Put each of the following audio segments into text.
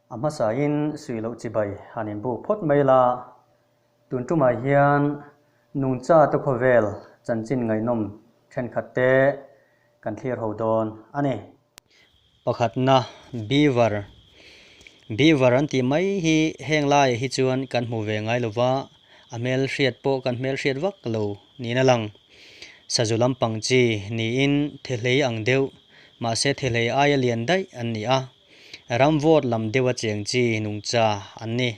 A hmasain suih loh chibai han in buk phawt mai la. Tun tumah hian Nungcha te khawvel chanchin ngaihnawm thenkhat te kan thlir ho dawn a ni. Pakhatna, Beaver, Beaver an tih mai hi heng laiah hi chuan kan hmu ve ngai lova, a hmel hriat pawh kan hmel hriat vak lo niin a lang. Sazu lampang chi niin thehlei ang deuh, mahse thehlei aia lian daih an ni a, ram vote lam deuha cheng chi nungcha an ni.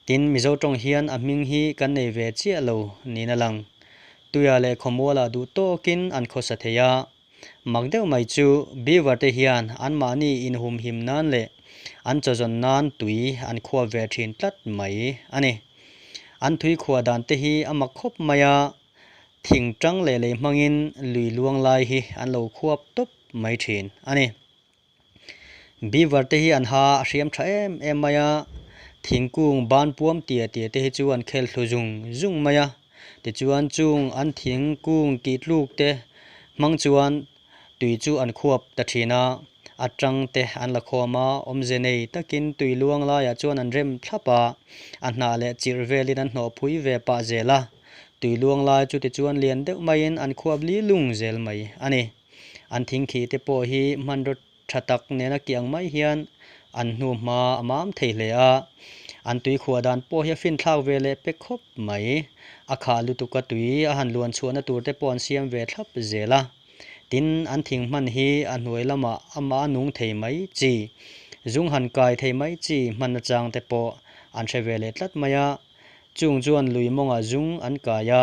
Tin, Mizo tawng hian a hming hi kan nei ve chiah lo niin a lang. Tuia leh khawmuala duh tawkin an khawsa thei a, Mak deuh mai chu Beaver te hian an mahni inhum him nan leh an chawzawn nan tui an khuah ve thin tlat mai a ni. An thui khuah dan te hi a mak khawp mai a, thing ṭang leh lei hmangin lui luang lai hi an lo khuap tawp mai thin a ni. Beaver te hi an ha a hriam tha em em mai a, thingkung ban puam tia tia te hi chu an khel thlu zung zung mai a, tichuan chung an thingkung tih tluk te hmang chuan tui chu an khuap ta thin a, a tang te an la khawm a, awmze nei takin tui luang laiah chuan an rem thlap a, a hnah leh chirh velin an hnawh phui ve pah zel a, tui luang lai chu tichuan lian deuh maiin an khuap li lung zel mai a ni. An thing khi te pawh hi hmanraw tha tak nena kiang mai hian an hnu hma a mam thei hle a, an tui khuah dan pawh hi a finthlak ve leh pek khawp mai. A khah lutuka tui a han luan chhuahna tur te pawh an siam ve thlap zel a. Tin, an thing hman hi a hnuai lama ama a nung thei mai chi, zung han kai thei mai chi hman achang te pawh an hre ve leh tlat mai a, chung chuan lui mawnga zung an kai a.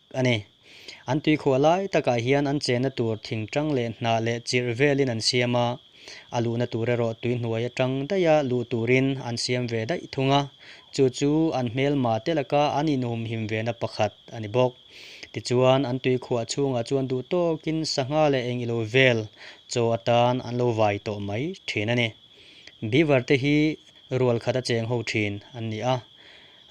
a ni. An tuikhuah lai takah hian an chenna tur thing ṭang leh hnah leh chirh velin an siam a, a luhna tur erawh tui hnuai aṭang daia luh turin an siam ve daih thung a, chu chu an hmelma te laka an inhumhim vena pakhat a ni bawk. Tichuan, an tuikhuah chhungah chuan duhtawkin sangha leh eng ilo vel chaw atan an lo vai tawh mai ṭhin a ni. Beaver te hi rual khat a cheng ho ṭhin an ni a,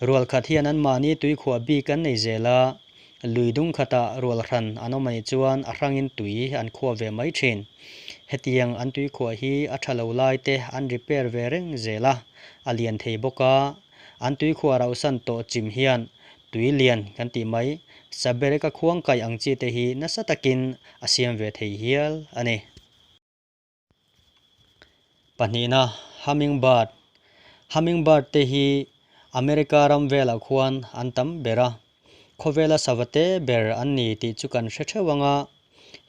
Rual khat hian an mahni tuikhuah bik an nei zel a, lui dung khatah rual hran an awm a nih chuan a hrangin tui an khuah ve mai thin. Hetiang an tuikhuah hi a tha lo lai te an repair ve reng zel a, a lian thei bawk a. An tuikhuah rauhsan tawh chim hian tui lian kan tih mai, sa berek a khuang kai ang chi te hi nasa takin a siam ve thei hial a ni. Pahnihna, Hummingbird, Hummingbird te hi America ram velah khuan an tam ber a, khawvela sava te ber an ni tih chu kan hre theuh anga,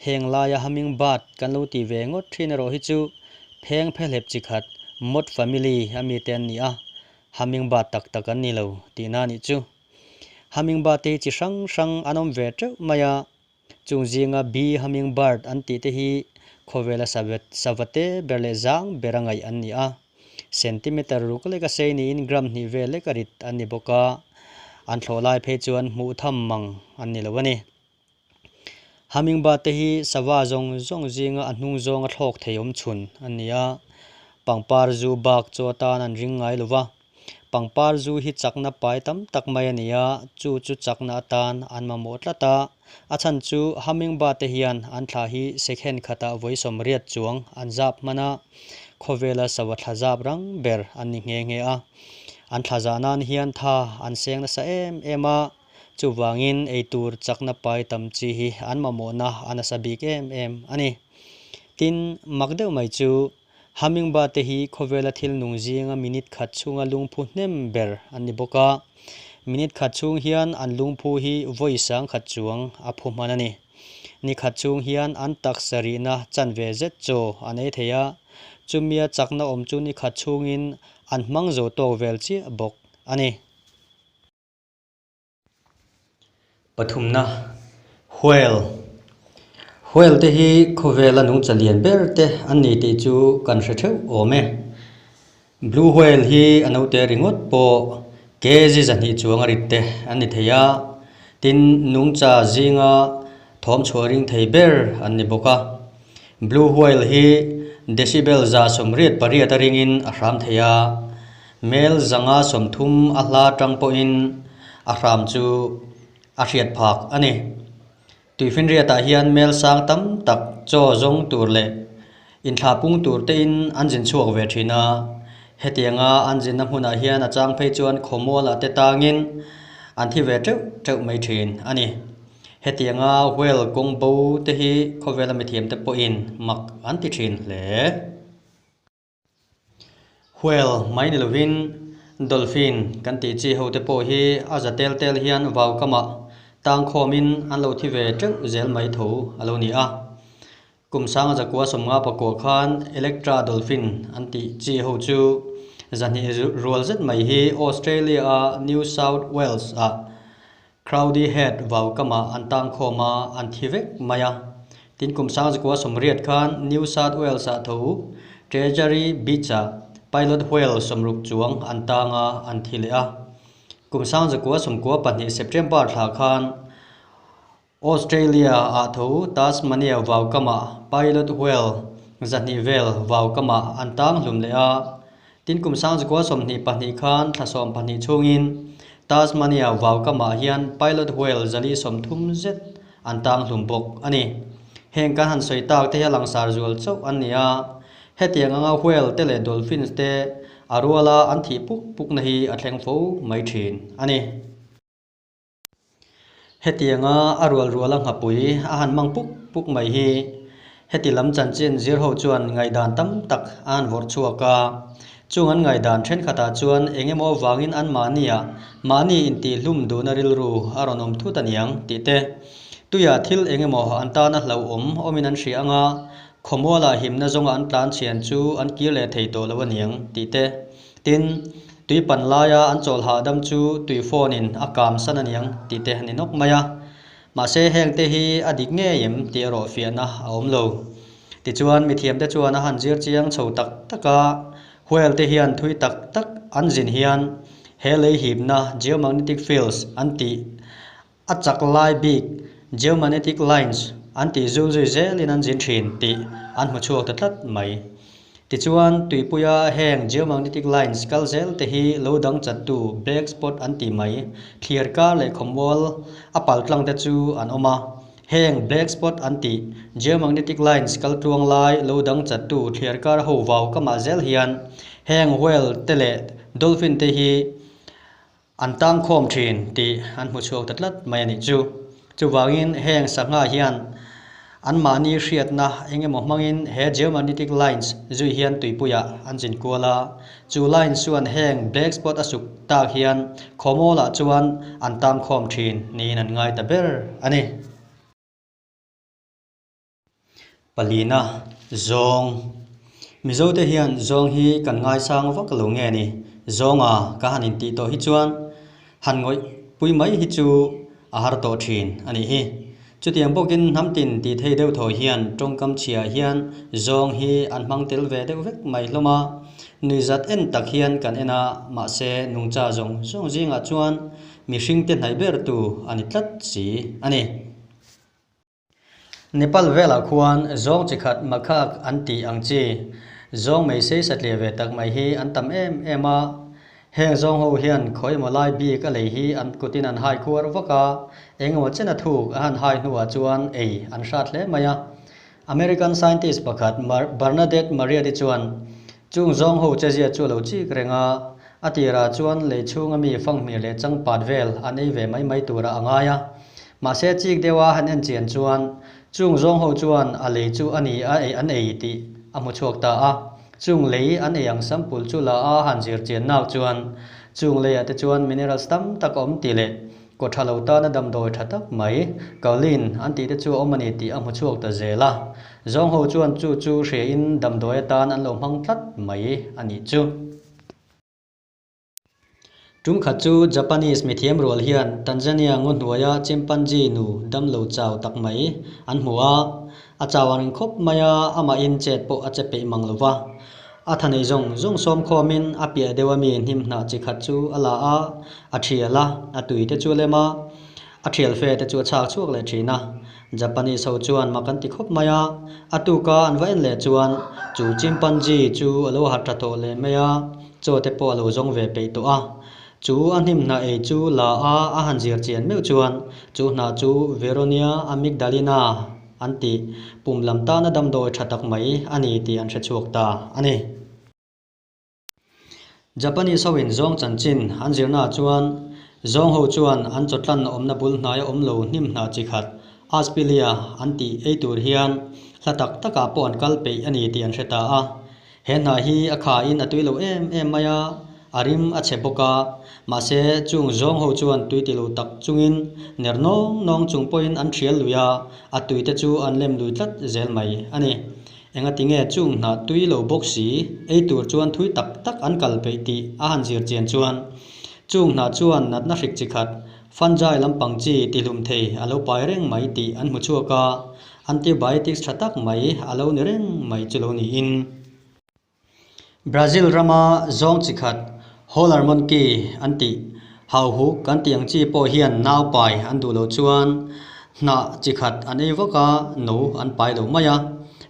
heng laia Hummingbird kan lo ti ve ngawt thin erawh hi chu pheng phe hlep chi khat moth family a mi te an ni a, Hummingbird tak tak an ni lo tihna a nih chu. Hummingbird te hi chi hrang hrang an awm ve teuh mai a, Chung zinga Bi Hummingbird an tihte hi khawvel a sa vet, sa vate ber leh zang ber a ngaih an ni a. Centimetre ruk leka sei niin gram hnih vel leka rit an ni bawk a, an thlawh lai phei chuan hmuh tham mang an ni lo a ni. Hummingbird te hi sava zawng zawng zinga a hnung zawnga thlawk thei awm chhun an ni a, pangpar zu bak chu atan an ring ngai lo va. Pangpar zu hi chakna pai tam tak mai a ni a, chu chu chakna atan an mamawh tlat a. A chhan chu Hummingbird te hian an thla hi second khatah vawisawm riat chuang an zap hman a, khawvela sava thla zap rang ber an ni nghe nghe a. An thla zah nan hian tha an seng nasa em em a, chuvangin eitur chakna pai tam chi hi an mamawhna a nasa bik em em a ni. Tin, mak deuh mai chu Hummingbird te hi khawvela thil nung zinga minute khat chhunga lungphu hnem ber an ni bawk a. Minute khat chhung hian an lungphu hi vawi sang khat chuang a phu hman a ni. Ni khat chhung hian an taksa rihna chan ve zet chaw a nei thei a. Chumia chakna awm chu ni khat chhungin an hmang zo tawk vel chiah bawk a ni. Pathumna, Huail, Huail te hi khawvel a nungcha lian ber te an ni tih chu kan hre theuh awm e. Blue Whale hi a naute ringawt pawh kg zahnih chuanga rit te an ni thei a, tin nungcha zinga thawm chhuah ring thei ber an ni bawk a. Blue Whale hi decibel za sawmriat pariat a ringin a hram thei a. Hmel zanga sawmthum a hla tang pawhin a hram chu a hriat phak a ni. Tuifinriatah hian hmel sang tam tak chaw zawng tur leh inthlah pung tur tein an zin chhuak ve thin a, hetianga an zinna hmunah hian a chang phei chuan khawmual ah te tangin an thi ve teuh teuh mai thin a ni. Hetianga Huel kawng bo te hi khawvela mithiamte pawhin mak an ti thin hle. Whale, Mai ni lovin Dolphin kan tih chi ho te pawh hi a za tel tel hian vau kamah tang khawm in an lo thi ve teuh zel mai tho a lo ni a. Kum sanga za kua sawm nga pakua khan Electra Dolphin an tih chi ho chu za hnih rual zet mai hi Australia-a New South Wales-ah Crowdy Head vau kamah an tang khawm a, an thi vek mai a. Tin kum sang zakua sawmriat khan New South Wales ah tho uh, Treasury Beach ah Pilot Whale sawmruk chuang an tang a, an thi leh a. Kum sang zakua sawmkua pahnih September thla khan Australia ah tho uh, Tasmania vau kamah Pilot Whale zahnih vel vau kamah an tang hlum leh a, Tin, kum Sangzukua sawmhnih pahnih khan thlasawm pahnih chhungin Tasmania vau kamah hian Pilot Whale zali sawm thum zet an tanghlum bawk a ni. Heng kan han sawi tak te hi a langsar zual chauh an ni a, hetiang anga Whale te leh Dolphins te a ruala an thih puk pukna hi a thleng fo mai thin a ni. Hetianga a rual rual a nghapui a han mang puk puk mai hi heti lam chanchin zir ho chuan ngaihdan tam tak a han vawrh chhuak a. Chung an ngaihdan thenkhatah chuan eng emaw vangin an mahnia mahni intihhlum duhna rilru a rawn awm thut a niang tih te, tuia thil eng emaw an tana hlauhawm awmin an hria anga khawmuala himna zawnga an tlan chhian chu an kir leh thei tawh lo a niang tih te, Tin, tui pan laia an chawlhah dam chu tui fawn-in a kam san a niang tihte a ni nawk mai a. Mahse, hengte hi a dik ngei em tih erawh fiahna a awm lo. Tichuan, mithiamte chuan a han zir chiang chho tak tak a, hualte hian thui tak tak an zin hian he lei hipna, geomagnetic fields, an tih. A chak lai bik geomagnetic lines an tih zul zui zel in an zin thin tih an hmu chhuak ta tlat mai. Tichuan, tuipuia heng geomagnetic lines kal zel te hi lo dang chat tu black spot an ti mai. Thlir kar leh khawmual a pal tlang te chu an awm a. Heng black spot an tih geomagnetic lines kal tuang lai lo dang chat tu thlir kar ho vau kamah zel hian heng whale te leh dolphin te hi An tang khawm thin tih an hmu chhuak ta tlat mai a nih chu. Chuvangin heng sangha hian anmahni hriatna eng emaw hmangin he geomagnetic lines zui hian tuipuiah an zin kual a, chu lines chuan heng black spot a suk tak hian khawmawl ah chuan an tang khawm thin niin an ngai ta ber a ni. Palina, Zawng, Mizo te hian zawng hi kan ngaisang vak lo nge ni? Zawnga ka han intih tawh hi chuan han ngawih pui mai hi chu a har tawh thin a nih hi. Chutiang bawkin hnam tin ti thei deuh thaw hian tawngkam chhiah hian zawng hi an hmang tel ve deuh vek mai hlawm a. Nuihzat en tak hian kan en a, mahse nungcha zawng zawng zingah chuan mihringte hnai ber tu a ni tlat si a ni. Nepal velah khuan zawng chi khat Makhak an tih ang chi. Zawng mei seisa tle ve tak mai hi an tam em em a. Heng zawng ho hian khawi emaw lai bik a lei hi an kutin an hai kuar vak a, eng emaw chena thuk a han hai hnuah chuan ei an hrat hle mai a. American scientist pakhat Bernadette Mariatti chuan, Chung zawng ho chezia chu a lo chik reng a, a tirah chuan lei chhunga mi fanghmir leh changpat vel an ei ve mai mai tur a a ngai a. Mahse chik deuh a han en chian chuan chung zawng ho chuan a lei chu a ni a ei an ei tih a hmu chhuak ta a, chung lei an ei ang sample chu la a han zir chian nak chuan chung lei ah te chuan minerals tam tak awm tih leh kaw tha lo tan a damdawi tha tak mai, kaolin, an tih te chu a awm a ni tih a hmu chhuak ta zel a, zawng ho chuan chu chu hria in damdawi atan an lo hmang tlat mai a nih chu. Tumkhat chu Japanese mithiam rual hian Tanzania ngaw hnuaia chimpanzee nu dam lo chau tak mai an hmu a, a chau ang reng khawp mai a, amahin chet pawh a che peih mang lo va. A tha neih zawng zawng sawm khawmin a piah deuh ami hnim hnah chi khat chu a la a, a thial a, a tui te chu a lem a, a thial fe te chu a chhak chhuak leh thin a. Japanese ho chuan mak an ti khawp mai a, a tuka an va en leh chuan chu chimpanzee chu a lo hat tha tawh leh mai a, chaw te pawh a lo zawng ve peih tawh a. Chu a hnim hnah ei chu la a a han zir chian meuh chuan chu hnah chu Veronia amygdalina an ti, pum lam tana damdawi tha tak mai a ni tih an hre chhuak ta a ni. Japanese hoin zawng chanchin an zirnaah chuan zawng ho chuan an chaw tlanna awmna bul hnaia awm lo hnim hna chi khat Aspillia an tih ei tur hian hla tak takah pawh an kal peih a ni tih an hre ta a. He hna hi a kha in a tui lo em em mai a, a rim a che bawk a, mahse chung zawng ho chuan tui ti lo tak chungin ner nawng nawng chung pawhin an ṭhial lui a, a tuite chu an lem lui tlat zel mai a ni. Enga ti nge chung hna tui lo bawk si, eitur chuan thui tak tak an kal peih tih a han zir chian chuan chung hna chuan natna hrik chi khat, Fanjai lampang chi tihlum thei a lo pai reng mai tih an hmu chhuak a, antibiotics tha tak mai a lo ni reng mai chu lo niin. Brazil rama zawng chi khat Holler Monki an tih Hauhuk kan tih ang chi pawh hian nau pai an duh lo chuan hnah chi khat an ei vak a, no an pai lo mai a.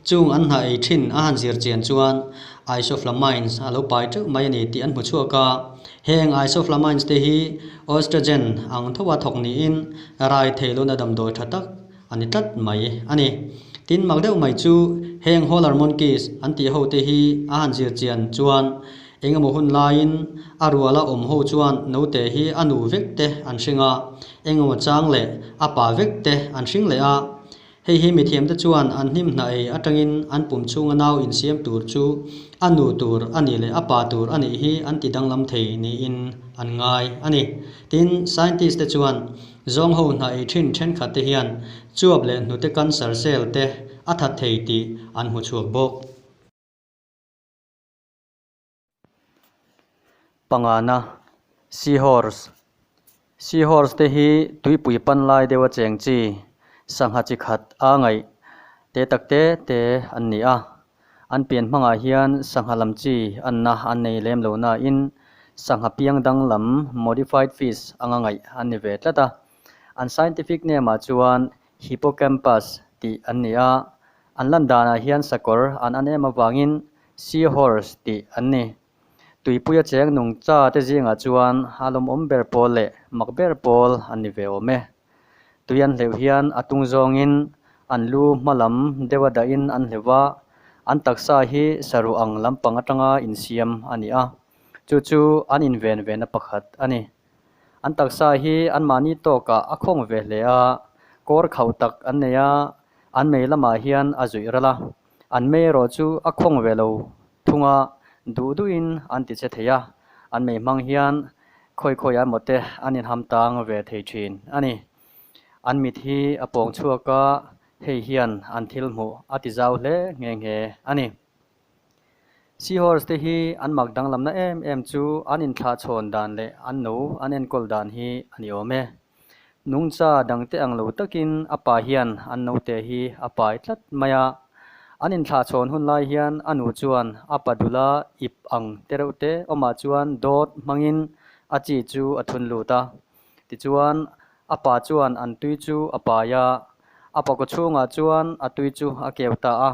Chung an hnah ei thin a han zir chian chuan isoflamines a lo pai teuh mai a ni tih an hmu chhuak a. Heng isoflamines te hi oestrogen ang thoa thawk niin rai thei lawna damdawi tha tak a ni tlat mai a ni. Tin, mak deuh mai chu heng Howler Monkeys an tih ho te hi a han zir chian chuan engemaw hun laiin a rual a awm ho chuan naute hi a nu vek te an hring a, engemaw chang leh a pa vek te an hring leh a. Hei hi mithiam te chuan an hnim hna ei atangin an pum chhunga nau insiam tur chu a nu tur a nih leh a pa tur a nih hi an ti danglam thei niin an ngai a ni. Tin, scientist te chuan Zawng ho hnah ei thin thenkhat te hian chuap leh hnute cancer cell te a that thei tih an hmu chhuak bawk. Pangana, Seahorse, Seahorse te hi tuipui pan lai deuha cheng chi, sangha chi khat a ngaih te takte te an ni a. An pian hmangah hian sangha lam chi anna an nei lem lo nain sangha piang dang lam, modified fish, anga ngaih an ni ve tlat a. An scientific name-ah chuan Hippocampus tih an ni a, an landanah hian sakawr an an em avangin Seahorse tih an ni. Tuipuia cheng nung cha te zingah chuan a lawmawm ber pawl leh mak ber pawl an ni ve awm e. Tui an hleuh hian a tung zawngin an lu hma lam deuha dahin an hleuh a, an taksa hi saru ang lampang atanga insiam a ni a, chu chu an inven vena pakhat a ni. An taksa hi anmahni tawkah a khawng ve hle a, kawr khauh tak an nei a, an mei lamah hian a zuih ralh a. An mei erawh chu a khawng ve lo thunga duh duhin an ti che thei a, an mei hmang hian khawi khawi ah emaw te an inham tang ve thei thin a ni. An mit hi a pawng chhuak a, hei hian an thil hmuh a ti zau hle nghe nghe a ni. Seahorse te hi an mak danglamna em em chu an inthlah chhawn dan leh an nu an enkawl dan hi a ni awm e. Nungcha dangte ang lo takin a pa hian an naute hi a pai tlat mai a. An inthlahchhawn hun lai hian a nu chuan a pa dula ip ang te reuh te awmah chuan dawt hmangin a chi chu a thun lut a. Tichuan, a pa chuan an tui chu a pai a, a pa kawchhungah chuan a tui chu a keu ta a.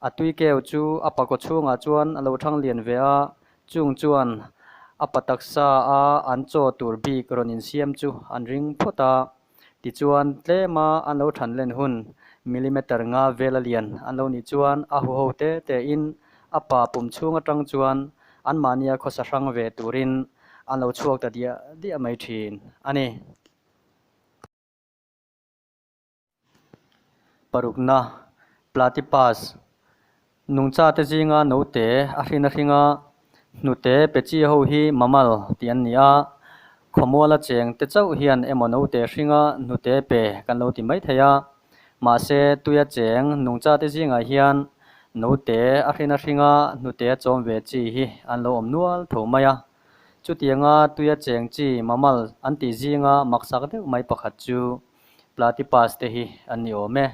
A tui keu chu a pa kawchhungah chuan a lo thang lian ve a, Chung chuan a pa taksa a an chaw tur bik rawn insiam chu an ring phawt a, tichuan tlem a an lo than len hun millimeter nga vel a lian an lo nih chuan a hu ho te tein a pa pum chhung atang chuan an mahnia khawsa hrang ve turin an lo chhuak ta diah diah mai thin a ni. Parukna, Platypus, Nungcha te zinga note a hrin a hring a, hnute pechi ho hi mammal tih an ni a. Khawmuala cheng te chauh hian emaw note hringa hnute pe kan lo ti mai thei a. Mahse, tuia cheng nungcha te zingah hian note a hrin a hringa hnute a chawm ve chi hi an lo awm nual tho mai a. Chutianga tuia cheng chi mammal an tih zinga maksak deuh mai pakhat chu Platypus te hi an ni awm e.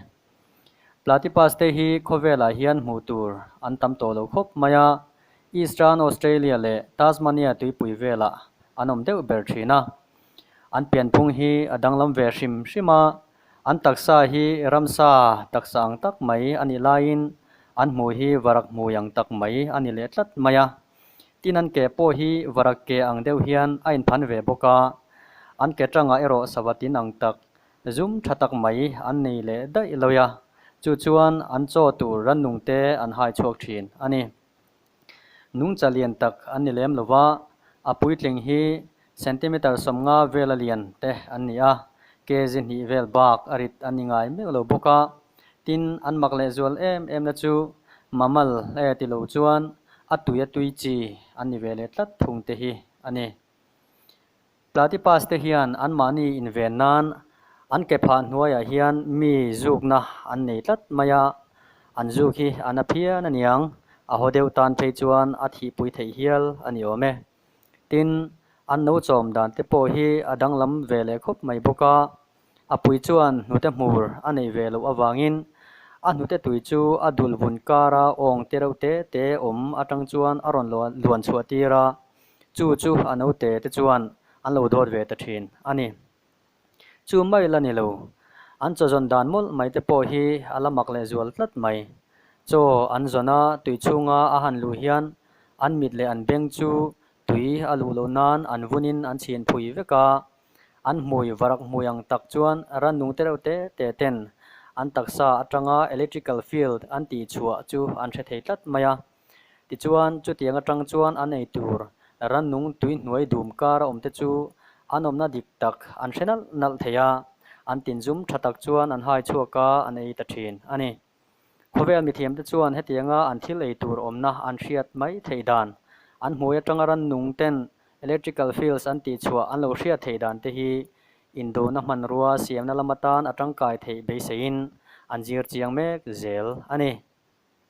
Platypus te hi khawvelah hian hmuh tur an tam tawh lo khawp mai a, Eastern Australia leh Tasmania tuipui velah an awm deuh ber thin a. An pianphung hi a danglam ve hrim hrim a, an taksa hi ramsa taksa ang tak mai a nih laiin an hmu hi varak hmui ang tak mai a ni leh tlat mai a. Tin an ke pawh hi varak ke ang deuh hian a inphan ve bawk a, an ke tangah erawh savatin ang tak, zum tha tak mai an nei leh daih lawih a, chu chuan an chaw tur rannung te an hai chhuak thin a ni. Nungcha lian tak an ni lem lova, a puitling hi Centimeter sawmnga vel a lian te an ni a, kg hnih vel bak a rit an ingai meuh lo bawk a, tin, an mak leh zual em em na chu mammal e ti lo chuan a tui a tui chi an ni ve leh tlat thung te hi a ni. Platypus te hian an mahni inven nan an ke phah hnuaiah hian mi zukna an nei tlat mai a, an zuk hi a na phian a niang, a haw deuh tan phei chuan a thihpui theih hial a ni awm e. Tin, an no chawm dan te pawh hi a danglam ve leh khawp mai bawk a, a pui chuan hnute hmur a nei ve loh avangin a hnute tui chu a dul vun kara awng te reuh te te awm atang chuan a rawn luan chhuah tir a, chu chu a naute te chuan an lo dawt ve ta thin a ni. Chu mai la ni lo. An chaw zawn dan mawlh mai te pawh hi a la mak leh zual tlat mai. Chaw an zawn a tui chhunga a han luh hian an mit leh an beng chu tui a luh loh nan an vunin an chhin phui vek a. An hmui varak hmui ang tak chuan rannung te reuh te te ten an taksa atanga electrical field an tih chhuah chu an hre thei tlat mai a. Tichuan, chutiang atang chuan an ei tur rannung tui hnuai dum kar a awmte chu an awmna dik tak an hre nalh nalh thei a, an tinzum tha tak chuan an hai chhuak a, an ei ta thin a ni. Khawvel mithiamte chuan hetianga an thil ei tur awmna an hriat mai theih dan, an hmuai atanga rannung ten electrical fields an tih chhuah an lo hriat theih dan te hi indona hmanrua siamna lam atan a tangkai theih beiseiin an zir chiang mek zel a ni.